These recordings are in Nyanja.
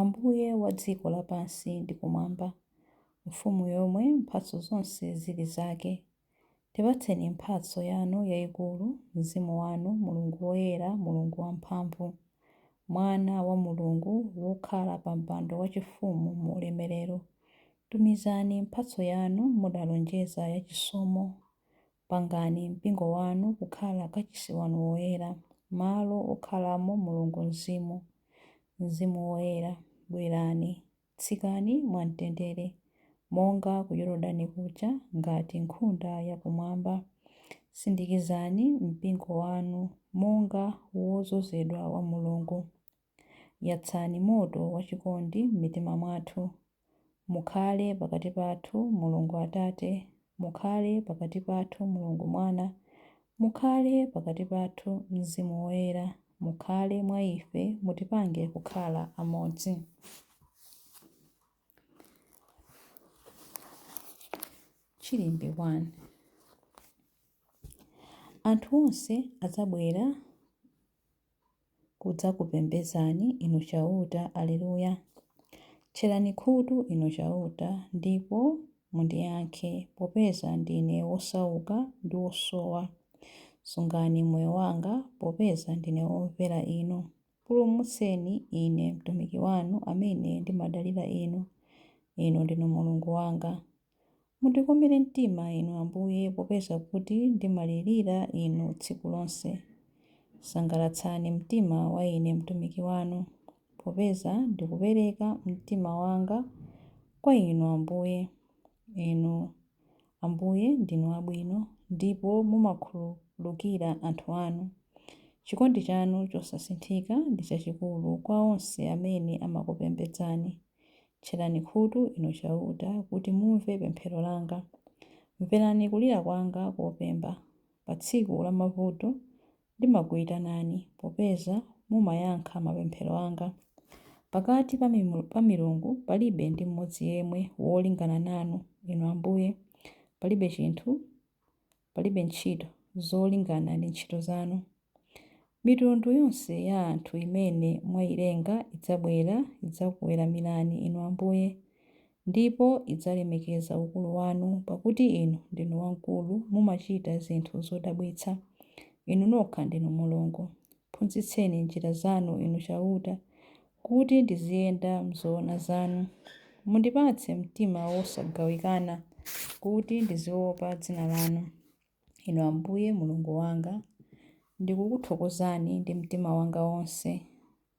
Ambuye wa dziko lapansi ndi kumwamba, Mfumu yomwe mphatso zonse zili zake, tipatseni mphatso Yanu yaikulu, Mzimu Wanu, Mulungu Woyera, Mulungu Wamphamvu, Mwana wa Mulungu, wokhala pa mpando wachifumu mu Ulemerero, tumizani mphatso Yanu mudalonjeza ya chisomo, Pangani mpingo wanu kukhala kachisi wanu woyera, malo okhalamo Mulungu Mzimu. Mzimu Woyera, bwerani, tsikani mwa mtendere, monga ku Yordani kuja, ngati nkhunda ya kumwamba. Sindikizani mpingo wanu monga wodzozedwa wa Mulungu. Yatsani moto wachikondi m'mitima mwathu. Mukhale pakati pathu Mulungu Atate, mukhale pakati pathu Mulungu Mwana, mukhale pakati pathu Mzimu Woyera, mukhale mwa ife, mutipange kukhala amodzi. Chilimbi 1. Anthu onse adzabwera kudzakupembedzani, Inu Chauta. Alleluia. Tcherani khutu, Inu Chauta, ndipo mundiyankhe, popeza ndine wosauka ndi wosowa. Sungani moyo wanga, popeza ndine womvera Inu. Pulumutseni ine mtumiki wanu amene ndimadalira Inu. Inu ndinu Mulungu wanga. Mundikomere mtima Inu Ambuye, popeza kuti ndimalirira Inu tsiku lonse. Sangalatsani mtima wa ine mtumiki wanu, popeza ndikupereka mtima wanga kwa Inu Ambuye. Inu Ambuye ndinu abwino, ndipo mumakhululukira anthu anu. Chikondi chanu chosasinthika ndi chachikulu kwa onse amene amakupembedzani. Tcherani khutu, Inu Chauta, kuti mumve pemphero langa. Mverani kulira kwanga kopemba. Pa tsiku lamavuto ndimakuitanani, popeza mumayankha mapemphero anga. Pakati pa milungu palibe ndi mmodzi yemwe wolingana nanu, Inu Ambuye, palibe chinthu Palibe ntchito zolingana ndi ntchito zanu. Mitundu yonse ya anthu imene mwailenga idzabwera, idzakuweramirani Inu Ambuye, ndipo idzalemekeza ukulu wanu, pakuti Inu ndinu wamkulu, mumachita zinthu zodabwitsa. Inu nokha ndinu Mulungu. Phunzitseni njira zanu Inu Chauta, Kuti ndiziyenda m'zoona zanu. Mundipatse mtima wosagawikana, Kuti ndiziopa dzina lanu. Inu Ambuye, Mulungu wanga, Ndikukuthokozani ndi mtima wanga wonse.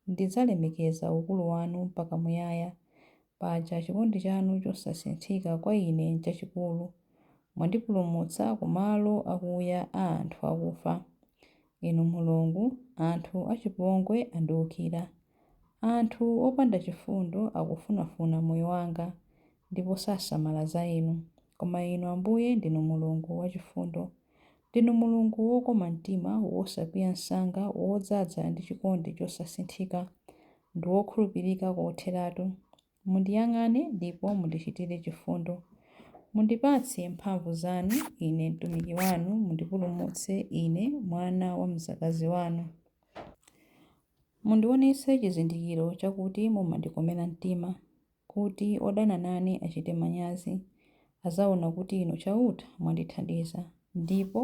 Ndidzalemekeza ukulu wanu mpaka muyaya. Paja chikondi chanu chosasinthika kwa ine n'chachikulu. Mwandipulumutsa kumalo akuya a anthu akufa. Inu Mulungu, anthu achipongwe andiukira. Anthu opanda chifundo akufunafuna moyo wanga, Ndipo sasamala za inu. Koma inu Ambuye ndinu Mulungu wachifundo. Ndinu Mulungu wokoma mtima, wosakwiya msanga, wodzaza ndi chikondi chosasinthika, Ndi wokhulupirika kotheratu. Mundiyang'ane ndipo mundichitire chifundo. Mundipatse mphamvu zanu, ine mtumiki wanu, mundipulumutse ine, mwana wa mdzakazi wanu. Mundionetse chizindikiro chakuti mumandikomera mtima, kuti odana nane achite manyazi. Adzaona kuti Inu Chauta mwandithandiza, ndipo.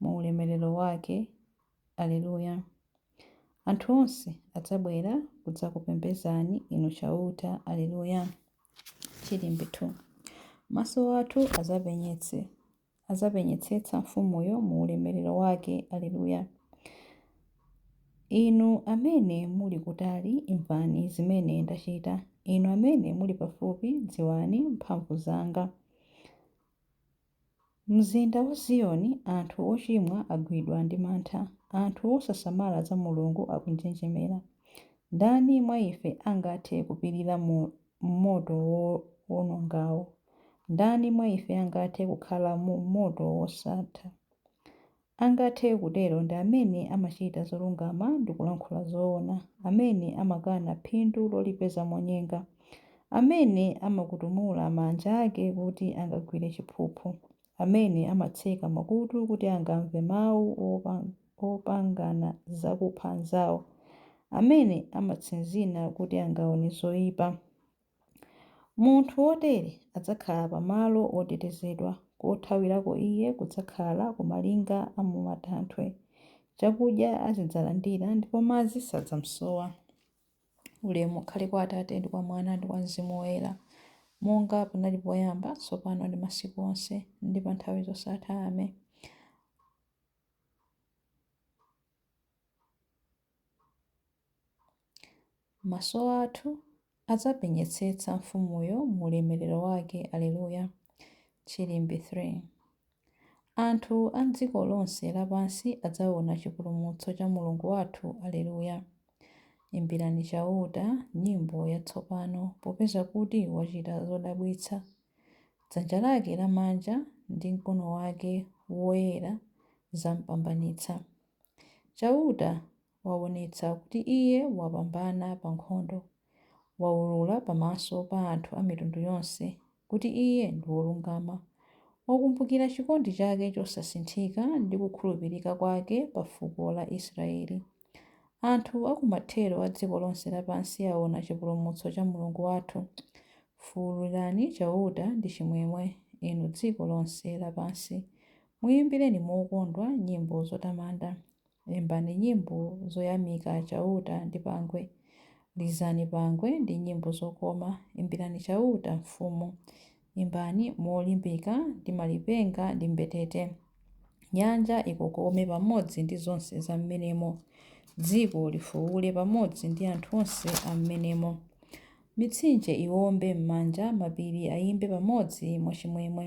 mu ulemerero wake. Aleluya. Anthu onse adzabwera kudzakupembedzani, Inu Chauta. Aleluya. Chilimbi 2 Maso athu adzapenyetse adzapenyetsetsa mfumuyo mu ulemerero wake. Aleluya. Inu amene muli kutali, imvani zimene ndachita, inu amene muli pafupi, dziwani mphamvu zanga. M'mzinda wa Ziyoni anthu ochimwa agwidwa ndi mantha, anthu osasamala za Mulungu akunjenjemera. Ndani mwa ife angathe kupirira mu moto wowonongawo? Ndani mwa ife angathe kukhala mu moto wosatha? angathe kutero ndi amene amachita zolungama ndi kulankhula zoona, amene amakana phindu lolipeza monyenga, amene amakutumula manja ake kuti angagwire chiphuphu, amene amatseka makutu kuti angamve mawu opangana za kupha anzawo, amene amatsinzina kuti angaone zoipa. Munthu wotere adzakhala pa malo otetezedwa, kothawirako iye kudzakhala ku malinga a mu matanthwe. Chakudya azidzalandira ndipo madzi sadzamsowa. Ulemu ukhale kwa Atate ndi kwa Mwana ndi kwa Mzimu Woyera, monga panali poyamba, tsopano ndi masiku onse, ndi pa nthawi zosatha. Amen. Maso athu adzapenyetsetsa Mfumuyo mu ulemerero wake. Aleluya! Chilimbi 3. Anthu a m'dziko lonse lapansi adzaona chipulumutso cha Mulungu wathu. Aleluya! Imbirani Chauta nyimbo yatsopano, popeza kuti wachita zodabwitsa. Dzanja lake lamanja ndi mkono wake woyera zampambanitsa. Chauta waonetsa kuti Iye wapambana pa nkhondo. Waulula pamaso pa anthu a mitundu yonse kuti Iye ndi wolungama. Wakumbukira chikondi chake chosasinthika ndi kukhulupirika kwake pa fuko la Israeli. Anthu a ku mathero a dziko lonse lapansi aona chipulumutso cha Mulungu wathu. Fuulirani Chauta ndi chimwemwe, inu dziko lonse lapansi. Muyimbireni mokondwa nyimbo zotamanda, imbani nyimbo zoyamika Chauta ndi pangwe. Lizani pangwe ndi nyimbo zokoma, imbirani Chauta mfumu. Imbani molimbika ndi malipenga ndi mbetete. Nyanja ikokome pamodzi ndi zonse zam'menemo, dziko lifuule pamodzi ndi anthu onse am'menemo. Mitsinje iwombe m'manja, mapiri ayimbe pamodzi mwachimwemwe.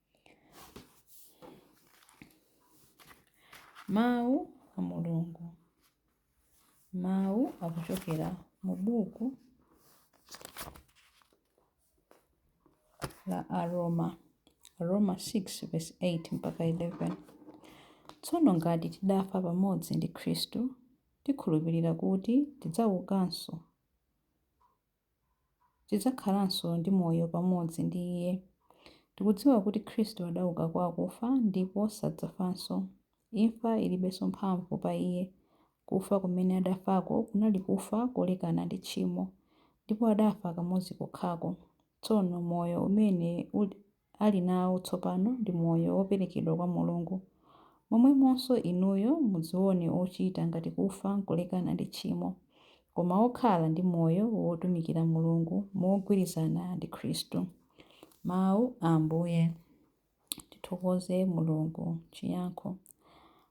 Mawu a Mulungu. Mawu akuchokera mu buku la Aroma, Aroma 6 verse 8 mpaka 11. Tsono ngati tidafa pamodzi ndi Khristu, tikhulupirira kuti tidzaukanso. tidzakhalanso ndi moyo pamodzi ndi Iye. Tikudziwa kuti Khristu adauka kwa akufa ndipo sadzafanso. Imfa ilibenso mphamvu pa Iye. Kufa kumene adafako kunali kufa kolekana ndi tchimo, ndipo adafa kamodzi kokhako. Tsono moyo umene. ali nawo tsopano ndi moyo woperekedwa kwa Mulungu, momwemonso inuyo mudzione ochita ngati kufa nkulekana ndi tchimo, koma okhala ndi moyo wotumikira Mulungu mogwirizana ndi Khristu. Mawu a Ambuye. Tithokoze Mulungu. Chiyankho.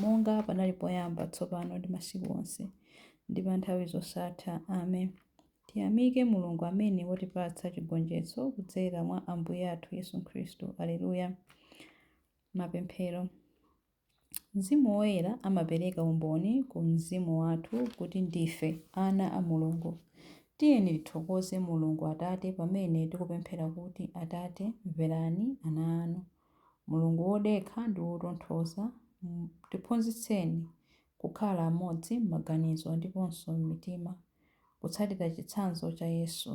monga panali poyamba, tsopano ndi masiku onse, ndi pa nthawi zosatha. Amen. Tiyamike Mulungu amene watipatsa chigonjetso kudzera mwa Ambuye athu Yesu Khristu. Aleluya. Mapemphero. Mzimu Woyera amapereka umboni ku mzimu wathu kuti ndife ana a Mulungu. Tiyeni tithokoze Mulungu Atate pamene tikupemphera kuti, Atate, mverani ana anu. Mulungu wodekha ndi wotonthoza, tiphunzitseni kukhala amodzi m'maganizo ndiponso m'mitima, kutsatira chitsanzo cha Yesu,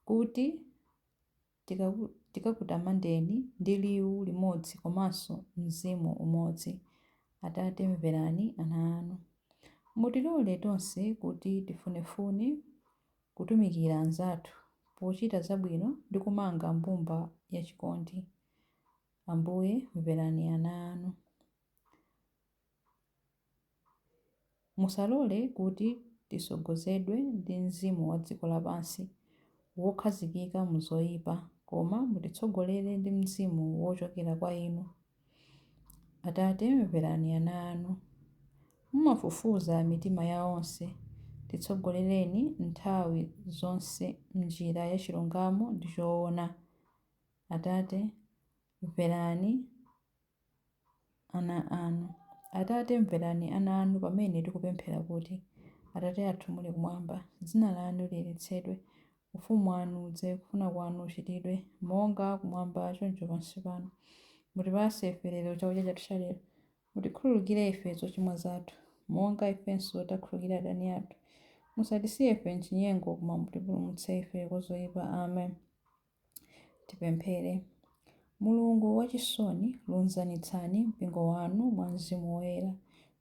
kuti tikakutamandeni ndi liwu limodzi komanso mzimu umodzi. Atate, mverani ana anu. Mutilole tonse kuti tifunefune kutumikira anzathu pochita zabwino ndi kumanga mbumba ya chikondi. Ambuye, mverani ana anu. Musalole kuti titsogozedwe ndi mzimu wa dziko lapansi wokhazikika mu zoipa, koma mutitsogolere ndi mzimu wochokera kwa Inu, Atate, mverani ana anu. Mumafufuza mitima ya onse. Titsogolereni nthawi zonse m'njira ya chilungamo ndi choona. Atate, mverani ana anu. Atate, mverani ana anu pamene tikupemphera kuti, Atate athu muli kumwamba, dzina lanu liyeretsedwe, Ufumu wanu udze. Kufuna kwanu kuchitidwe, monga kumwamba choncho pansi pano. Mutipatse ife lero chakudya chathu chalero. Mutikhululukire ife zochimwa zathu, monga ifenso takhululukira adani athu. Musatisiye ife m'chinyengo, koma mutipulumutse ife kwa zoipa. Amen. Tipemphere. Mulungu wachisoni, lunzanitsani mpingo wanu mwa Mzimu Woyera,